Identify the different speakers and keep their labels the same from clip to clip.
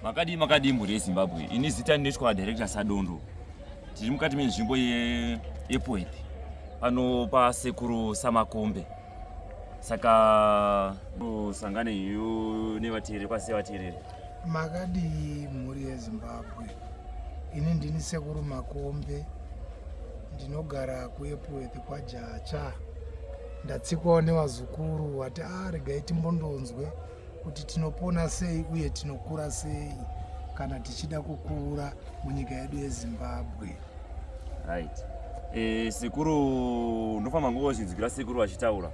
Speaker 1: makadii makadii mhuri yezimbabwe ini zita ndinoitwa director sadondo tiri mukati menzvimbo yepoet pano pasekuru samakombe saka usangane yu nevateereri kwase vateereri makadii
Speaker 2: mhuri yezimbabwe ini ndini sekuru makombe ndinogara kuepworth kwajacha ndatsikwawo nevazukuru wati a ah, regai timbondonzwe ah, kuti tinopona sei uye tinokura sei kana tichida kukura munyika yedu yezimbabwe right
Speaker 1: e, sekuru ndofamba ngozvinzwira sekuru vachitaura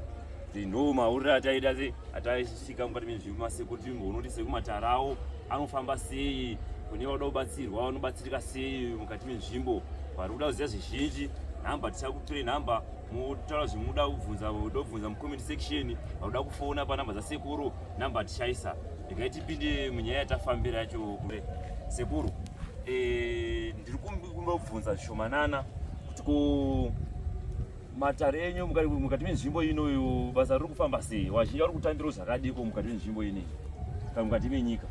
Speaker 1: ndo maurire ataida ataisvika mukati mezvimasekuru timboonoti sekumatarawo anofamba sei kune vanoda kubatsirwa vanobatsirika sei mukati menzvimbo vari kuda kuziva zvizhinji nhamba tichakutirei nhamba motaura zvimuda kubvunza uda kubvunza mucomment section auda kufona panamba dzasekuru namba hatishaisa regai tipinde munyaya yatafambira yacho kure sekuru eh, ndiri kumba kubvunza zvishomanana kuti ko matare enyu mukati menzvimbo inoyo basa riri kufamba sei vazhinji vari kutambirawo zvakadiko mukati menzvimbo inei kana mukati menyika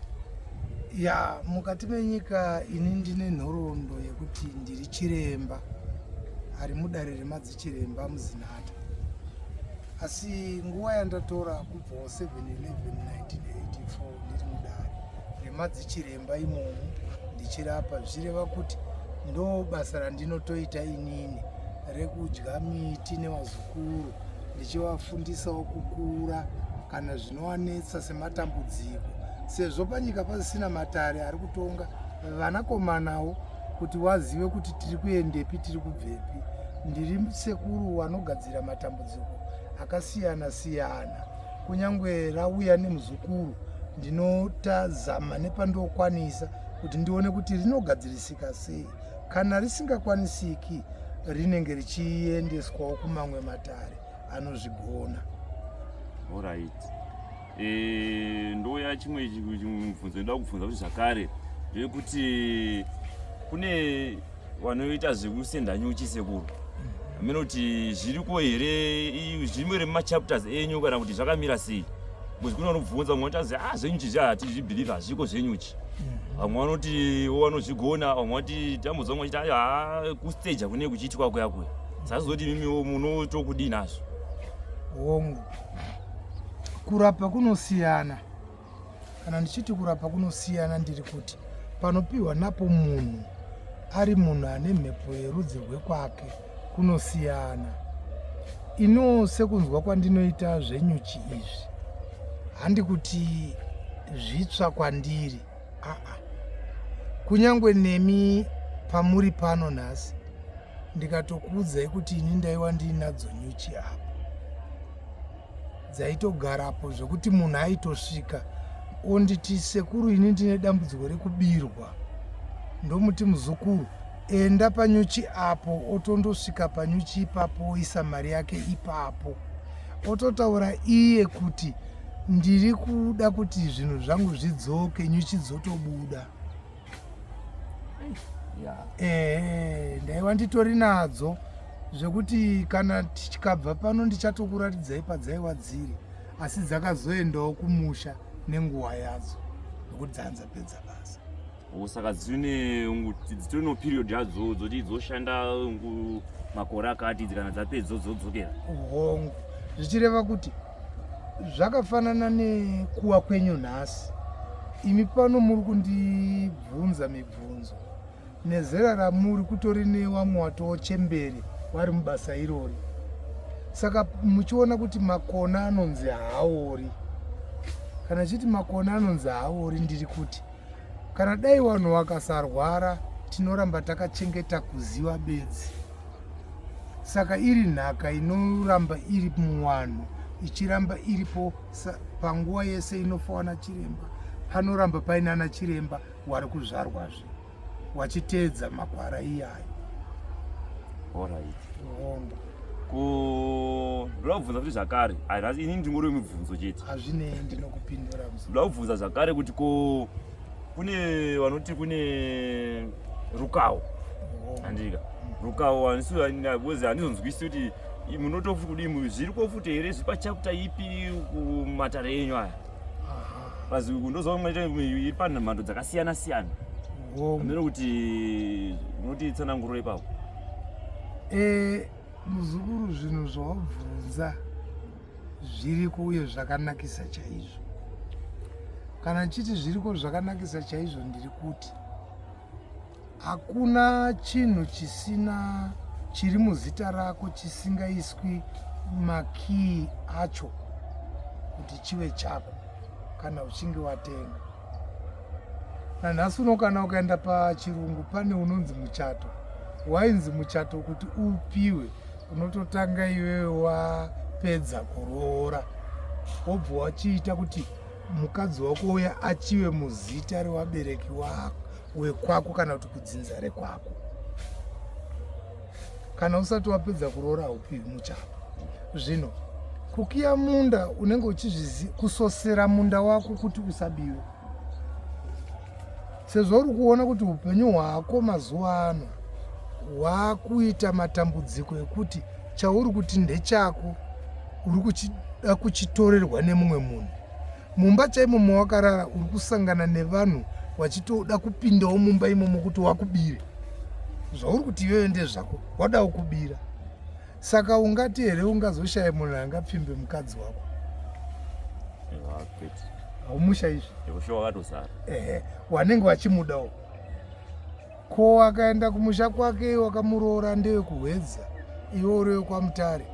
Speaker 1: ya
Speaker 2: mukati menyika ini ndine nhoroondo yekuti ndiri Chiremba ari mudare remadzichiremba muzinata asi nguva yandatora kubvawo 7 11 1984 ndiri mudare remadzichiremba imomo ndichirapa zvichireva kuti ndo basa randinotoita inini rekudya miti nevazukuru ndichivafundisawo kukura kana zvinowanetsa sematambudziko sezvo panyika pasisina matare ari kutonga vanakomanawo kuti wazive kuti tiri kuendepi tiri kubvepi ndiri sekuru wanogadzira matambudziko akasiyana siyana kunyange rauya nemuzukuru ndinotazama nepandokwanisa kuti ndione kuti rinogadzirisika sei kana risingakwanisiki rinenge richiendeswawo kumamwe matare anozvigona
Speaker 1: orit Eh, ndouya chimwe mubvunzo ndoda kubvunza kuti zvakare zvekuti kune vanoita zvekusenda nyuchi sekuru hameno kuti zviriko here zvirimo here mumachapters enyu kana kuti zvakamira sei bcause kune vanobvunza vamwe vanotazi a ah, zvenyuchi zvi hatizvibhilivhe hazviko zvenyuchi vamwe vanoti vanozvigona vamwe vati tamboza vamwe vachiti haa ah, kustaja kune kuchiitwa kuya kuya sazoti mimiwo munotokudii nazvo hongu
Speaker 2: Kurapa kunosiyana. Kana ndichiti kurapa kunosiyana ndiri kuti panopiwa napo munhu ari munhu ane mhepo yerudzi rwekwake kunosiyana. Iniwo sekunzwa kwandinoita zvenyuchi izvi handi kuti zvitsva kwandiri aa kunyange nemi pamuri pano nhasi ndikatokuudzai kuti ini ndaiwa ndiinadzo nyuchi apo dzaitogarapo zvekuti munhu aitosvika onditi sekuru ini ndine dambudziko rekubirwa ndomuti muzukuru enda panyuchi apo otondosvika panyuchi ipapo oisa mari yake ipapo ototaura iye kuti ndiri kuda kuti zvinhu zvangu zvidzoke nyuchi dzotobuda ehe ndaiva nditori nadzo zvekuti kana tikabva pano ndichatokuratidzai padzaiva dziri asi dzakazoendawo kumusha nenguva yadzo nokuti dzanza pedza basa saka
Speaker 1: dzitori noperiod yadzo dzoti dzoshanda makore akati kana dzapedza dzodzokera hongu
Speaker 2: zvichireva kuti zvakafanana nekuwa kwenyu nhasi imi pano muri kundibvunza mibvunzo nezera ramuri kutori newamwe watowo chembere wari mubasa irori saka muchiona kuti makona anonzi haori kana chiti makona anonzi haori ndiri kuti kana dai vanhu vakasarwara tinoramba takachengeta kuziva bedzi saka iri nhaka inoramba iri muwanhu ichiramba iripo panguva yese inofa wana chiremba panoramba paine ana chiremba wari kuzvarwazve wachiteedza makwara iyayo
Speaker 1: hongu ndinobvunza kuti zvakare ini ndingori mibvunzo chete hazvinei ndinokupindura
Speaker 2: ndinobvunza
Speaker 1: zvakare kuti ko kune vanoti kune rukawo handika rukawo handisozi handizonzwisi kuti munotofuti kudii zviri kofuti here zviri pachaputa ipi kumatare enyu aya paziko ndozoiri panhamhando dzakasiyana siyana amene kuti unoti tsananguro ipapo eh,
Speaker 2: muzukuru zvinhu zvawabvunza zviriko uye zvakanakisa chaizvo kana chiti zviriko zvakanakisa chaizvo ndiri kuti hakuna chinhu chisina chiri muzita rako chisingaiswi makiyi acho kuti chive chako kana uchinge watenga nanhasi uno kana ukaenda pachirungu pane unonzi muchato wainzi muchato kuti upiwe unototanga iwewe wapedza kuroora wobva wachiita kuti mukadzi wako uya achive muzita rewabereki wako wekwako kana kuti kudzinza rekwako kana usati wapedza kuroora haupiwi muchapa zvino kukiya munda unenge uchizvizi kusosera munda wako kuti usabiwe sezvo uri kuona kuti upenyu hwako mazuva ano hwakuita matambudziko ekuti chauri kuti ndechako uri kuchida kuchitorerwa nemumwe munhu mumba chaimo mawakarara uri kusangana nevanhu wachitoda kupindawo mumba imomo kuti wakubire zvauri kuti iyoyo ndezvako wadawo kubira saka ungati here ungazoshaya munhu angapfimbe mukadzi wako haumusha izvi ehe wanenge wachimudawo ko wakaenda kumusha kwake wakamuroora ndewe kuhwedza iwe urewe kwamutare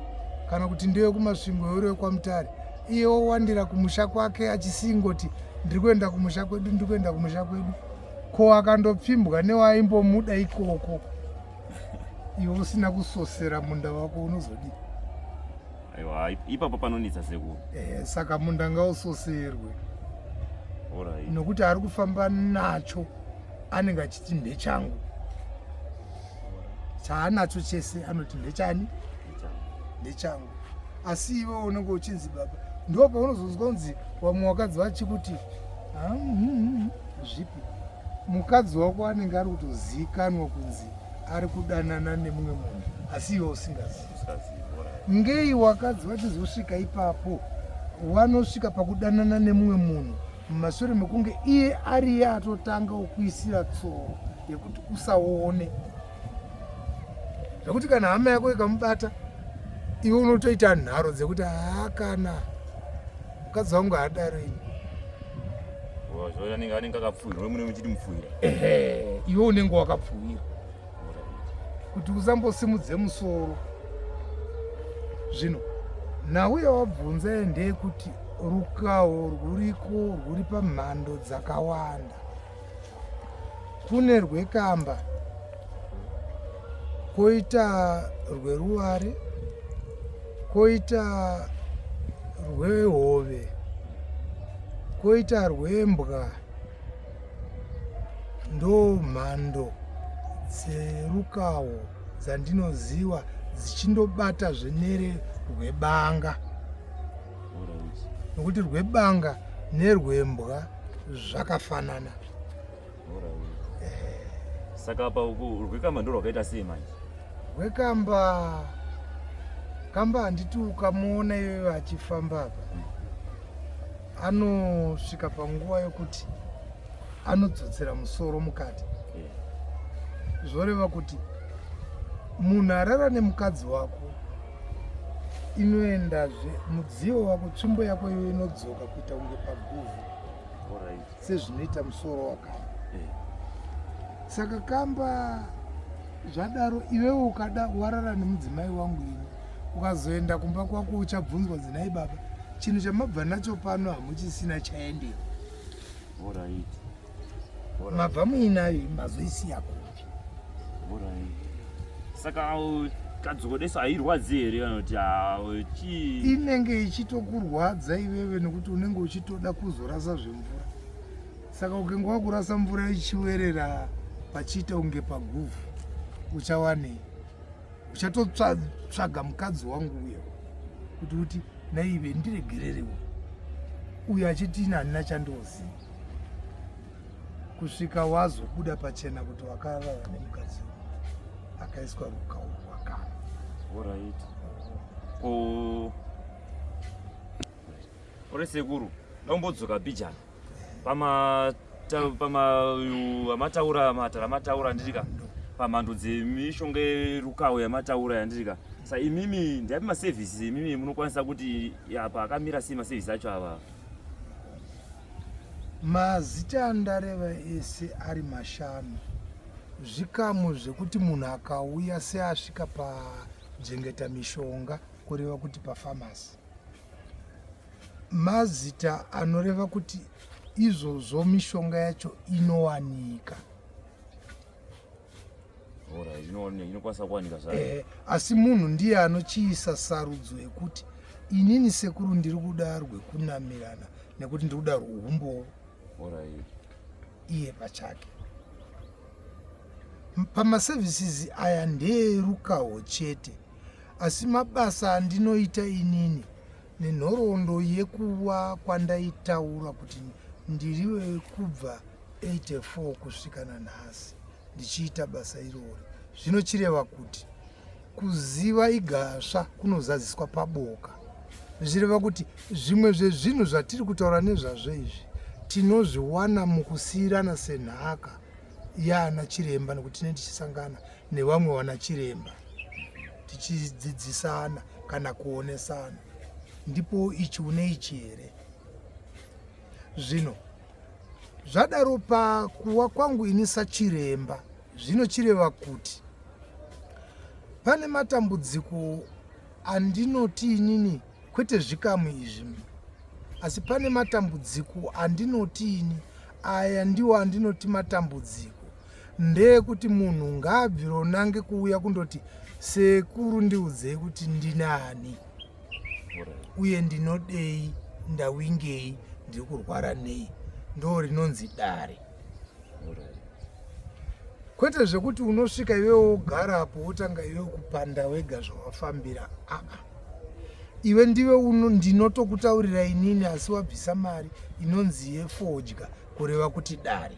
Speaker 2: kana kuti ndewe kumasvingo urewe kwamutare iye wowandira kumusha kwake achisingoti ndiri kuenda kumusha kwedu ndiri kuenda kumusha kwedu ko akandopfimbwa newaimbomuda ikoko iwe usina kusosera munda wako unozodii
Speaker 1: aiwa ipapo panonetsa sekuru eh, saka munda
Speaker 2: ngausoserwe right. nokuti ari kufamba nacho anenge achiti ndechangu chaanacho chese anoti ndechani ndechangu asi iwe unenge uchinzi baba ndo paunozonzwa kunzi vamwe wakadzi vachikuti ah, mm, mm, mm, zvipi mukadzi wako anenge ari kutoziikanwa kunzi ari kudanana nemumwe munhu asi iwe usingazivi ngei wakadzi vachizosvika ipapo wanosvika pakudanana nemumwe munhu mumashure mekunge iye ariye atotanga ukuisira tsoro yekuti usaone zvekuti kana hama yako ikamubata iwe unotoita nharo dzekuti haakana mukadzi wangu haadaro ini
Speaker 1: anenge anenge akapfuhira we munenge muchiti mupfuhira ehe iwe
Speaker 2: unenge wakapfuhira kuti usambosimudze musoro zvino nauya wabvunza ndeyekuti rukawo rwuriko rwuri pamhando dzakawanda kune rwekamba koita rweruware koita rwehove koita rwembwa ndo mhando dzerukawo dzandinoziva dzichindobata zvenere rwebanga nokuti rwebanga nerwembwa zvakafanana
Speaker 1: saka apa rwekamba ndo rwakaita sei manje rwekamba
Speaker 2: kamba handiti ukamuona iwe vachifamba apa hmm. anosvika panguva yokuti anodzodzera musoro mukati zvoreva kuti munhu arara nemukadzi wako inoendazve mudziyo wako tsvimbo yako iyo inodzoka kuita kunge paguvhu sezvinoita musoro wakao eh. saka kamba zvadaro iwewe ukada warara nemudzimai wangu ini ukazoenda kumba kwako uchabvunzwa dzinai baba chinhu chamabva nacho pano hamuchisina chaendera mabva muinayo mazoisiya kupi
Speaker 1: saka kadzokodeso hairwadzi here vanoti chi inenge
Speaker 2: ichitokurwadza iveve nokuti unenge uchitoda kuzorasa zvemvura saka ukenge wakurasa mvura ichiwerera pachiita kunge paguvhu uchawanei uchatotsvaga mukadzi wangu uyo kuti uti naive ndiregererewo uyo achiti ini handina chandoziva kusvika wazobuda pachena kuti wakarara nemukadzi akaiswa rukaurwa kana orit
Speaker 1: uri sekuru dombodzoka bijana pamataura pama, matara mataura ndirika pamhando dzemishonga yerukawo yamataura yandirika sa imimi ndiapi maservices imimi munokwanisa kuti apa akamira sei maservices acho ava
Speaker 2: Mazita andareva ese ari mashanu. Zvikamu zvekuti munhu akauya seasvika pajengeta mishonga kureva kuti pafamasi. Mazita anoreva kuti izvozvo mishonga yacho inowanika.
Speaker 1: inokwanisa kuwanika zvayo eh, asi munhu
Speaker 2: ndiye anochiisa sarudzo yekuti inini sekuru ndiri kuda rwekunamirana nekuti ndiri kuda rwehumbowo iye pachake pamaservices aya ndeerukaho chete asi mabasa andinoita inini nenhoroondo yekuva kwandaitaura kuti ndiri kubva 84 kusvika nanhasi ndichiita basa irori zvinochireva kuti kuziva igasva kunozadziswa paboka zvichireva kuti zvimwe zvezvinhu zvatiri kutaura nezvazvo izvi tinozviwana mukusiyirana senhaka yaana chiremba nekuti tinee tichisangana nevamwe vana chiremba tichidzidzisana kana kuonesana ndipo ichi une ichi here zvino Zvadaro pakuwa kwangu ini sachiremba zvinochireva kuti pane matambudziko andinoti inini kwete zvikamu izvi asi pane matambudziko andinoti ini aya ndiwo andinoti matambudziko ndeyekuti munhu ngaabvironange kuuya kundoti sekuru ndiudzei kuti ndinani uye ndinodei ndawingei ndiri kurwara nei ndo rinonzi dare kwete zvekuti unosvika iwe wogara apo wotanga iwe kupanda wega zvawafambira aa iwe ndiwe uno ndinotokutaurira inini asi wabvisa mari inonzi yefodya kureva kuti dare